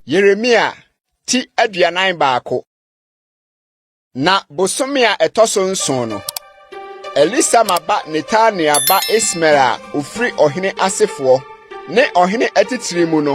Yeremia ti aduanan baako na bosome a ɛtɔ so nson no elisama ba netania ba ismael a ofiri ɔhene asefoɔ ne ɔhene atitire mu no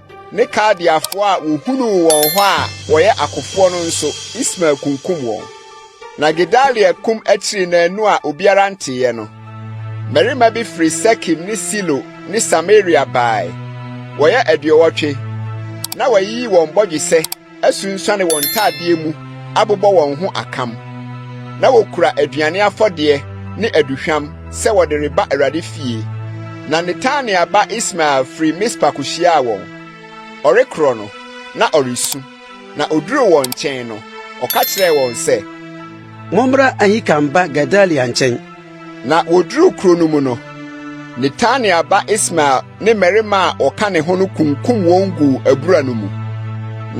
ne Kaldeafoɔ a wɔhunuu wɔn hɔ a wɔyɛ akofoɔ no nso, Ismael kunkum wɔn. Na Gedalia kum akyiri naanu a obiara nteeɛ no. Mmarima bi firi Sekem ne Silo ne Samaria baeɛ. Wɔyɛ aduɔwɔtwe. Na wɔayiyi wɔn bɔdwesɛ asunsuane wɔn ntadeɛ mu abobɔ wɔn ho akam. Na wɔkura aduane afɔdeɛ ne aduhwam sɛ wɔde reba Awurade fie. Na Netania ba Ismael firi Mispa kɔhyiaa wɔn. Ɔrekorɔ no, na ɔresu. Na ɔduruu wɔn nkyɛn no, ɔka kyerɛɛ wɔn sɛ. Mommra Ahikam ba Gedalia nkyɛn. Na wɔduruu kuro no mu no, Netania ba Ismael ne mmarima a wɔka ne ho no kunkum wɔn guu abura no mu.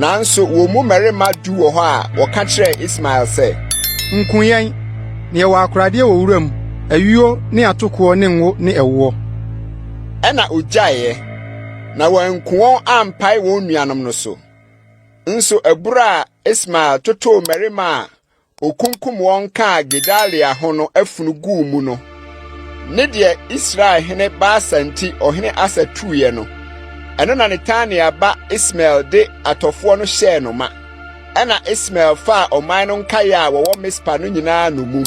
Nanso wɔn mu mmarima du wɔ hɔ a wɔka kyerɛɛ Ismael sɛ, Nku yɛn, na yɛwɔ akoradeɛ wɔ wuram, ayuo ne atokoɔ ne ngo ne ɛwoɔ. Ɛna ogyaeeɛ, na wɔanku wɔn ampae wɔn nuanom no so. Nso abura a Ismael totoo mmarima a okunkum wɔn kaa Gedalia ho no afunu guu mu no, ne deɛ Israel hene Baasa nti ɔhene Asa tuiɛ no, ɛno na Netania ba Ismael de atɔfoɔ no hyɛɛ no ma. Ɛna Ismael faa ɔman no nkaeɛ a wɔwɔ Mispa no nyinaa nnommum.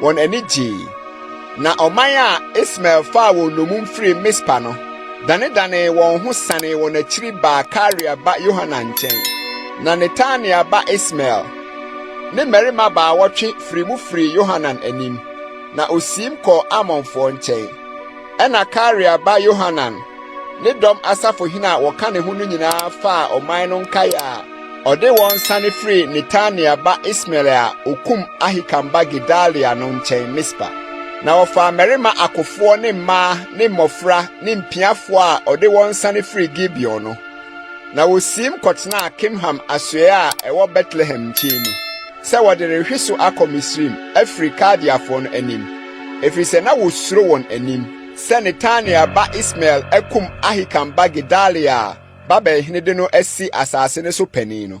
wɔn ani gyei. Na ɔman a Ismael faa wɔn nnommum firi Mispa no danedanee wɔn ho sanee wɔn akyiri baa Karea ba Yohanan nkyɛn. Na Netania ba Ismael ne mmarima baawɔtwe firi mu firii Yohanan anim, na osiim kɔɔ Amonfoɔ nkyɛn. Ɛna Karea ba Yohanan ne dɔm asafohene a wɔka ne ho no nyinaa faa ɔman no nkaeɛ a Ɔde wɔn sane firii Netania ba Ismael a okum Ahikam ba Gedalia no nkyɛn Mispa. Na wɔfaa mmarima akofoɔ ne mmaa ne mmɔfra ne mpiafoɔ a ɔde wɔn sane firii Gibeon no. Na wɔsiim kɔtenaa Kimham asoɛe a ɛwɔ Betlehem nkyɛn mu sɛ wɔde rehwe so akɔ Misraim afiri Kaldeafoɔ no anim, ɛfiri sɛ na wɔsuro wɔn anim sɛ Netania ba Ismael akum Ahikam ba Gedalia a Babel hene de no asi asase no so panin no.